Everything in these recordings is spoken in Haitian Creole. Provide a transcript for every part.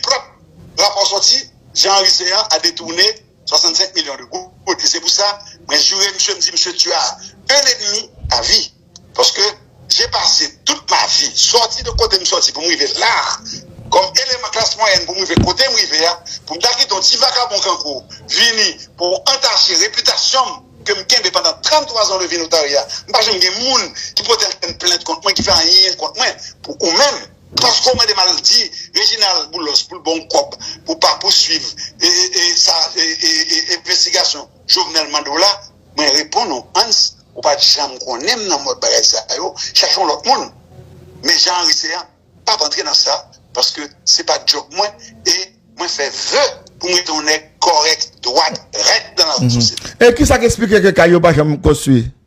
Prop, Rapò sòti, Jean Henry Céant a detourné 65 millions de goud e se pou sa mwen jure misye m di misye tu as un ennemi à vie paske j'ai passé toute ma vie sòti de kote m sòti pou m rive la a kòm eleman klas mwayèn pou m rive kote m rive a pou m ta kite yon ti vakabon kankou w vini pou w antache repitasyon m ke m kenbe pandan 33 ans de vie notaria m pa janm gen moun ki pote ankenn plent kont mwen ki fè anyen kont mwen pou ou menm Paske w mande m al di Reginald Boulos pou l ba w kòb pou w pa pouswiv sa envestigasyon Jovenel mande w la, mwen reponn ou Hans, ou pa t janm konnen m nan mòd bagay sa yo, chache yon lòt moun. Men Jean Henry Céant m pa p antre nan sa paske se pa djòb mwen e mwen fè ve pou m rete yon nèg kòrèk, dwat, rèt nan lawout sosyete. E kisa k esplike ke kay yo pa janm konstwi?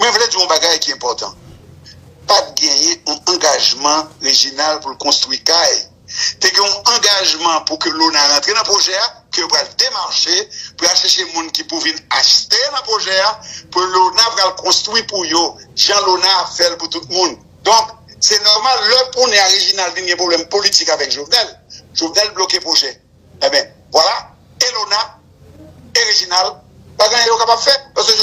Mwen vle di w yon bagay ki enpòtan, pa t genyen yon angajman Reginald pou l konstwi kay. Te gen yon angajman pou ke Lona rantre nan pwojè a, ke yo pral demache pou y al chèche moun ki pou vin achte nan pwojè a, pou Lona pral konstwi pou yo, jan Lona ap fè l pou tout moun. Donk, se nòmal lè kounye a Reginald vin gen pwoblèm politik avèk Jovenel, Jovenel bloke pwojè. Enben, vwala, Elona e Rejinal pa gen anyen yo kapab fè, paske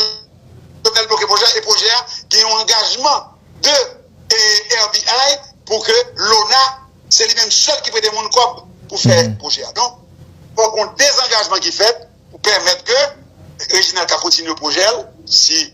Jovenel bloke pwojè a, e pwojè a gen yon angajman de RBI pou ke Lona se li menm sèl ki prete moun kòb pou fè pwojè a. Donk, fòk yon dezangajman ki fèt pou pèmèt ke Rejinal ka kontinye pwojè l, si.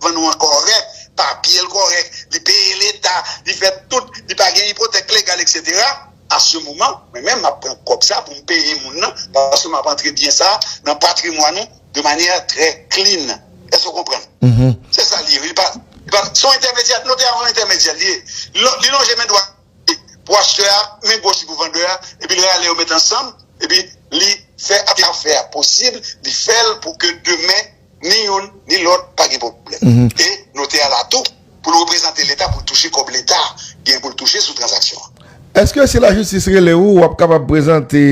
vann ou an kòrèk, papye l kòrèk, li peye leta, li fè tout, li pa gen ipotèk legal eksetera, a se moman mwen menm m ap pran kòb sa pou m peye moun nan paske m ap antre byen sa nan patrimwàn ou de manyè trè klin. Èske ou konprann? Se sa li ye wi. Se yon entèmedyè, notè a yon entèmedyè li ye. Li lonje men dwat li pou achtè a, men goch li pou vandè a, epi li rale yo met ansanm, epi li fè afè a posib, li fè l pou ke demen. Ni youn, ni lòt pa gen pwoblèm. E, notè a la tou pou l reprezante Leta pou l touche kòb Leta gen pou l touche sou tranzaksyon an. Èske si lajistis rele ou, w ap kapab prezante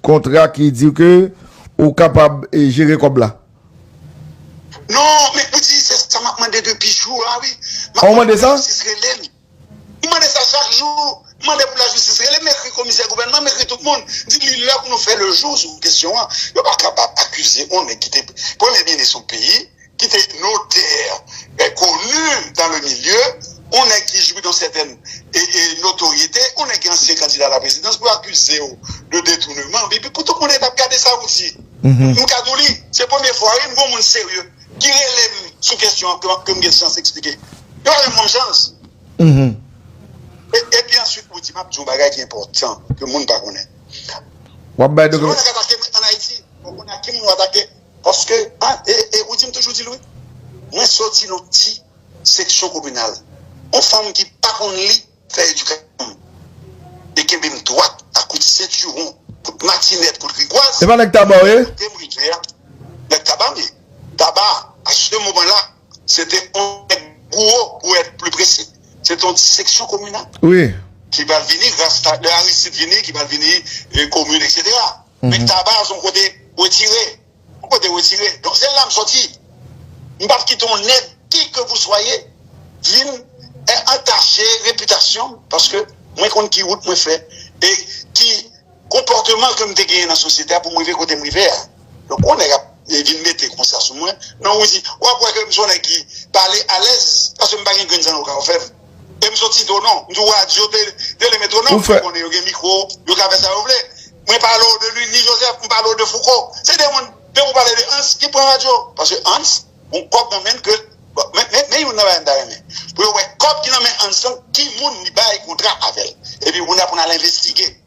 kontra ki di ke ou kapab jere kòb la? Non, men ou di se sa m ap mande depi jou a wi. M ap mande pou lajistis rele m. M mande sa chak jou, m mande pou lajistis rele m, ekri komisè gouvènman, m ekri tout moun, di li lè pou nou fè le jou sou kesyon an. Yo pa kapab akize yon nèg ki te premye minis yon peyi, ki te notè koni dan le milye, yon nèg ki jwi dan sètèn notoryete, yon nèg ki ansyen kandida a la prezidans pou akize w de detounèman, epi pou tout moun ap gade sa ou di. M ka di w li se premye fwa wi m gen yon moun serye ki relem sou kesyon an ke m gen chans eksplike. Yo pa janm banm chans. E pi answit Woody m ap di yon bagay ki enpòtan ke moun pa konnen. W ap bay de. Si yo pa ka atake m an Ayiti, fò w konnen ak ki moun w atake. Paske, e Woody m toujou di l wi, mwen soti nan yon ti seksyon kominal. Yon fanm ki pa konn li. fè edikasyon m e kenbe m dwat a kout sentiwon, kout matinèt, kout rigwaz, Epa nèg taba w ye? kote m rive a nèg taba m ye. Taba a se moman la se te yon nèg gwo pou èt pli presi, se te yon ti seksyon kominal ki pral vini gras a lè Aristide vini ki pral vini komin eksetera. Nèg taba a se yon kote wetire. Pou kote wetire don se lam soti m pap kite yon nèg ki ke vou swaye vin antache repitasyon paske mwen konn ki wout mwen fè e ki konpòteman ke m te genyen nan sosyete a pou m rive kote m rive a donk yon nèg ap vin mete konsa sou mwen non ou di wap wè ke m son nèg ki pale alèz paske m pa gen grenn zannouka ou fèm. Em son ti do non. M di w radyo tele metronome fè konnen yo gen mikro yo ka fè sa yo vle. Mwen pale w de Lundy Joseph m pale w de Fouco se de moun depi w pale de Hans ki pran radyo paske Hans gon kòb nan menn ke men youn nan bagay m ta renmen pou yo wè kòb ki nan men Hans lan ki moun li bay kontra avè l epi kounye a pou n al envestige.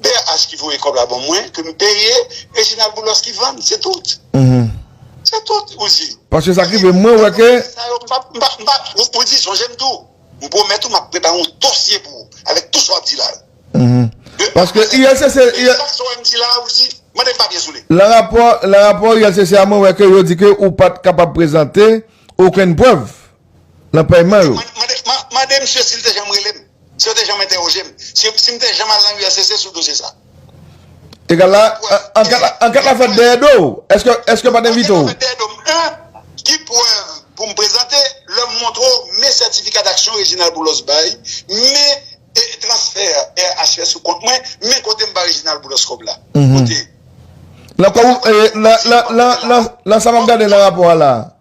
BRH ki voye kob la ban mwen ke m peye Reginald Boulos ki vann se tout se tout ou di paske sa ki rive mwen wè ke ou di sonje m tou m pwomèt ou m ap prepare yon dosye pou ou avèk tout sa w ap di la yo paske ULCC chak sa w wè m di la ou di mande m papye sou li lan rapò ULCC a mwen wè ke yo di ke ou pat kapab prezante okenn prèv. nan pèyman yo. Mande misye si li te janm rele m, si yo te janm entèwoje m, si m te janm al nan uscc sou dosye sa. E gad la, an gad la fèt dèyè do w, èske yo pa t envite w? An gad la fèt dèyè do m 1. Ki prèv pou m prezante lè m montre w men sètifika daksyon Reginald Boulos bay, men transfè RH fè sou kont mwen, men kote m ba Reginald Boulos kòb la? Kote? Lan sa m ap gade lan rapò a la a.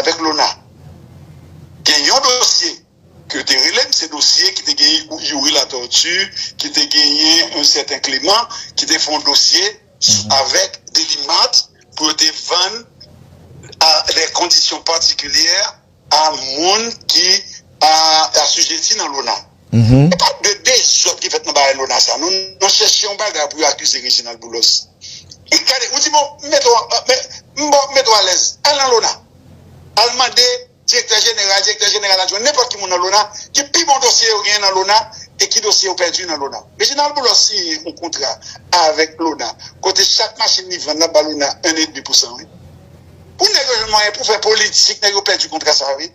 avèk Lona. Gen yon dosye ke yo te rele m, se dosye ki te gen Youri Latortue, ki te genyen yon sèten Clément, ki te fè yon dosye avèk Deline Mart pou yo te vann a dè kondisyon patikilyè a moun ki asijeti nan Lona. Se pa de dezòd ki fèt nan bagay Lona sa non, nou nan chèche yon bagay pou yo akize Reginald Boulos. Li gade, ou di bon, m mete w an, m ba w, m mete w alèz, al nan Lona, al mande direktè jeneral, direktè jeneral adjwen, nenpòt ki moun nan Lona, ki pi bon dosye yo genyen nan Lona e ki dosye yo pèdi nan Lona. Reginald Boulos siyen yon kontra avèk Lona kote chak machin li vann la ba Lona 1 edmi pousan wi. Pou nèg yo jwenn mwayen pou fè politik, nèg yo pèdi kontra sa wi.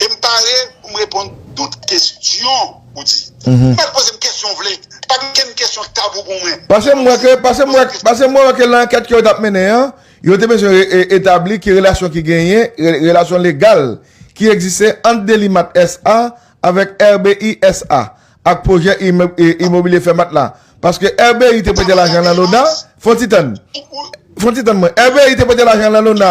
e m pare pou m reponn tout kesyon ou di. Ou mèt poze m kesyon ou vle, pa gen okenn kesyon k tabou pou mwen. Pase m wè ke, pase m wè, pase m wè ke lan ankèt ke yo t ap mennen an, yo te bezwen etabli ki relasyon ki genyen, relasyon legal ki egziste ant Delimat SA. avèk RBI SA. ak pwojè imobilye Fèmat la. Paske RBI te prete lajan lan Lona, fon ti tann, fon ti tann mwen, RBI te prete lajan lan Lona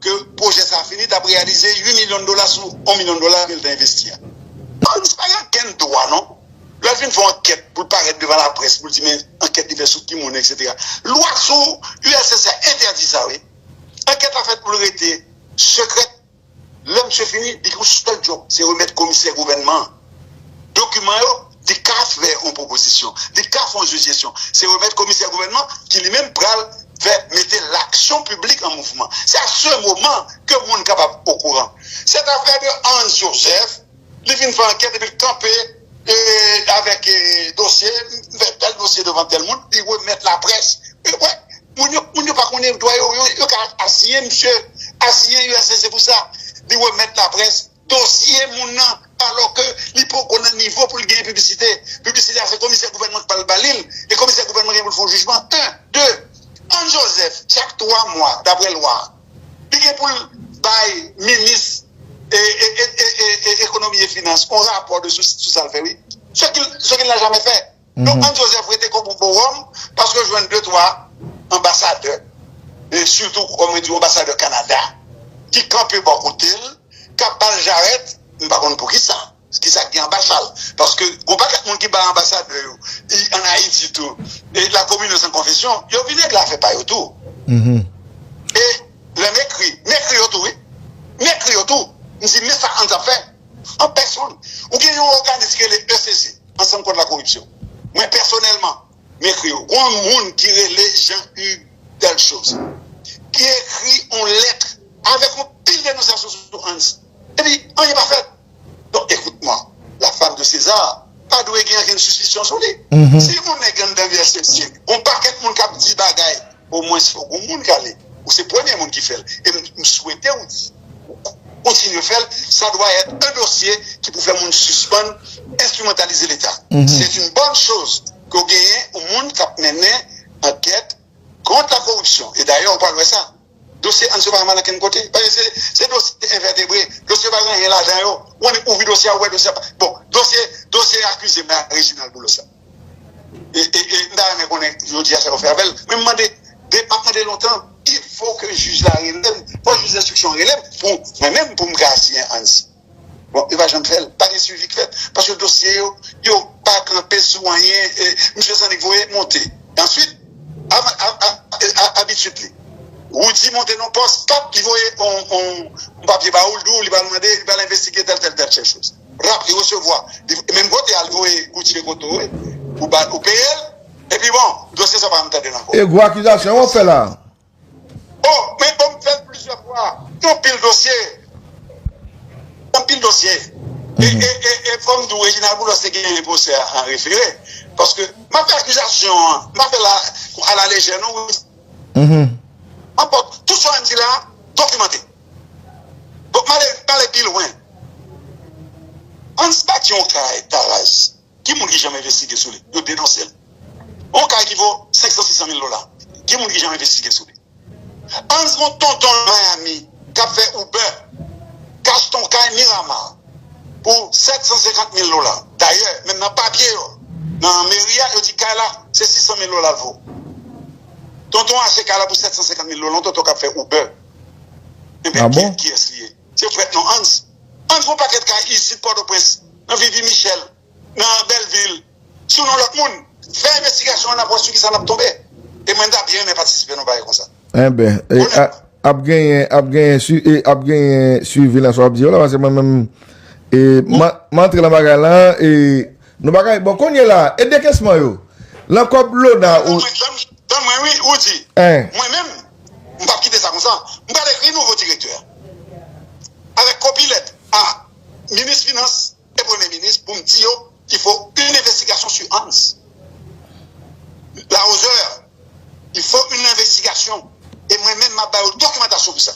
ke pwojè sa fini tap reyalize 8 milyon dola sou 1 milyon dola kel te envesti a. Polis pa gen okenn dwa non lèl fin fè ankèt poul parèt devan laprès poul di men ankèt li fè sou ki moun etc. Lwa sou uscis a entèdi sa wi. Ankèt la fèt poul rete sekrèt lè misye fini li gen yon sèl djòb se remèt komisè gouvènman an. dokiman yo, li ka fè yon pwopozisyon, li ka fè yon sijesyon. Se remèt komisè gouvènman ki li menm pral fè mete laksyon piblik an mouvman. Se a se moman ke moun kapab okouran. Sètafè de Hans Joseph, li vin fè ankèt epi li kanpe avèk dosye, m fè tèl dosye devan tèl moun, li remèt laprès. Wè, moun yo, moun yo pa konnen dwa yo, yo ka asiyen misye, asiyen uscg pou sa. Li remèt laprès, Dosye moun nan alò ke li poko nan nivo pou li genyen piblisite. Piblisite a se komisè gouvènman ki pral ba li l e komisè gouvènman genyen pou l fè yon jijman. 1, 2. Ann Joseph chak 3 mwa daprè lwa a li gen pou l bay minis ekonomi e finans yon rapò sou sa l fè wi. Ce qu'il n'a jamais fait. Donk Anne Joseph rete kon pou bowòm paske yo jwenn 2 3 anbasadè e sitou kòm yo di anbasadè Canada ki kanpe bò kote l k ap ba l jarèt m pa konn poukisa ki sa k gen anba chal paske gen yon pakèt moun ki bay anbasadè yo an Ayiti tou e la komine san konfesyon yo vin regle afè pa yo tou e lè m ekri m ekri yo tou wi m ekri yo tou m di men sa Anne ap fè an pèsonn ou gen yon òganis ki rele ECC. Ansanm kont la koripsyon. Mwen pèsonèlman, m ekri yo. G'on moun ki rele Jean Hugues Delchausse ki ekri on lèt avèk on pil denonsasyon sou Hans epi anyen pa fèt. Donk ekout mwa, la femme de César pa dwe gen ankenn sispisyon sou li. Si on nèg anndan USCG, on pakèt moun k'ap di bagay, o mwens fò g'on moun k'ale. Ou se premye moun ki fèl e m swete ou di. kontinye fè l, sa dwa èt un dosye ki pou fè moun sispann enstrimantalize leta. Se une bonne chose ke w genyen yon moun k ap mennen ankèt kont la koripsyon e dayè ou pral wè sa dosye Anse pa mal ankenn kote paske se dosye envètebre, dosye yo pa gen anyen ladan yo, ou annik ouvri dosye a ou wè dosye a pa bon dosye dosye akize mè a Reginald Boulos la. E m ta renmen konnen jodi a sa yo fè avèl. Men m mande, m ap mande lontan, il fo ke jij la rele m, fo jij enstriksyon an rele m pou mwen menm pou m ka asiyen Hans. Bon, yo pa janm fè l, pa gen swivi k fèt paske dosye yo, yo pa kanpe sou anyen, misye zannik voye monte. Answit, abitid li, Roody monte nan yon pòs, pap, li voye yon papye ba ou, li di w li pral mande, li pral envestige tèl tèl tèl tèl choz. rap li resevwa e menm kote al voye Gucci kote ou ye ou peyel epi bon dosye sa pa tandel anko. E gwo akizasyon wap fè la. Oh men bon m fèl plizyè fwa gen yon pil dosye gen yon pil dosye e fòm di w Reginald Boulos te genyen pwosè a an refere paske map fè akizasyon an m pa fèl a la lejè non wi anpòt tout sa m di la dokimante. Bob Marley t pale pi lwen. Hans bati yon kay Taraz ki moun ki janm envestige sou li yo denonse l yon kay ki vo 500 600 mil dola ki moun ki janm envestige sou li Hans gon tonton nan Miami kap fè Uber k achte yon kay Miramar pou 750 mil dola dayè menm nan papye yo nan meri a yo di kay la se 600 mil dola l vo tonton achte kay la pou 750 mil dola yon tonton kap fè Uber. Ebyen kiyès kiyès li ye? Se prèt non Hans. Hans gon pakèt kay isit Pòtoprens, nan Vivi Michel, nan Bèlvil, sou non lòt moun. Fè envestigasyon an nap wè sou kisa nap tonbe. E mwen m ta byen renmen patisipe nan bagay konsa. Enben ap genyen ap genyen ap genyen swivi nan sa wap di yo la paske mwen menm m antre nan bagay la e nou pa ka bon kounye la e dekesman yo nan kòb Lona ou Tann mwen wi ou di mwen menm M pap kite sa konsa. M pral ekri nouvo direktè a avèk kopi lèt a minis finans e premye minis pou m di yo il faut une investigation sur Hans Laroseur. Il faut une investigation e mwen menm m ap ba yo dokimantasyon pou sa.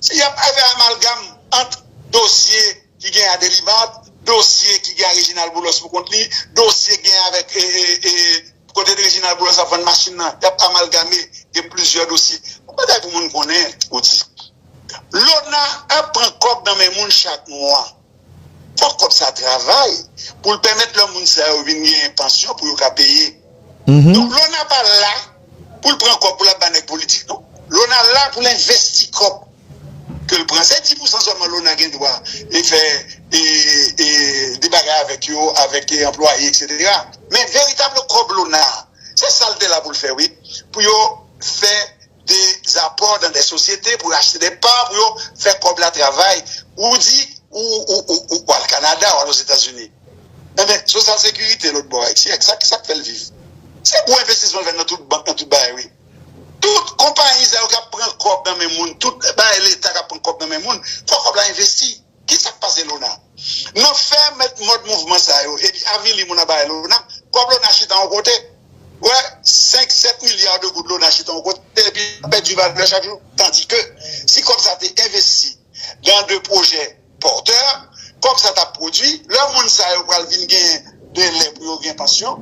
Si y ap fè amalgam ant dosye. ki gen a Delibab, dosye ki gen a Reginald Boulos pou kont li, dosye ki gen avèk kote Reginald Boulos ap vann machin nan, y ap amalgame, gen plizyè dosye. Yon bagay pou moun konnen, Odi, Lona ap pran kòb nan men moun chak mwa. Fòk kòb sa travay pou l pèmèt lò moun sa yo vin genyen pansyon pou yo ka peye. Donk Lona pa la. poul pran kòb pou lap ba nèg politik non lona la poul envesti kòb kel pran se 10 pousan sèlman lona gen dwa li fè de bagay avèk yo avèk anplwaye etc men veritable kòb lona se sal te la poul fè wi pou yo fè de zapò dan de sosyete pou yo achte de pa pou yo fè kòb la travay ou di ou al kanada ou al ozetazini. Enben, sosyal sekirite lòt bò a, et siyèk, sa k fè l viv? Se gwo envestisman l fè nan tout bank, nan tout bagay wi. Tout konpayi sa yo k ap pran kòb nan men moun, tout bagay Leta k ap pran kòb nan men moun, fò kòb la envesti. Ki sa k pase Lona? Nan fè mèt mòd mouvman sa yo epi avili moun anba e Lona, kòb Lona chita yon kote. Ou wè, senk, sèt milya de goud Lona chita yon kote epi l ap pèdi valè chak jou. Tandike, si kòb sa te envesti nan de pwojè, pòtè, kòb sa t ap pwodui, lè moun sa yo pral vin gen delè pou yo gen pansyon,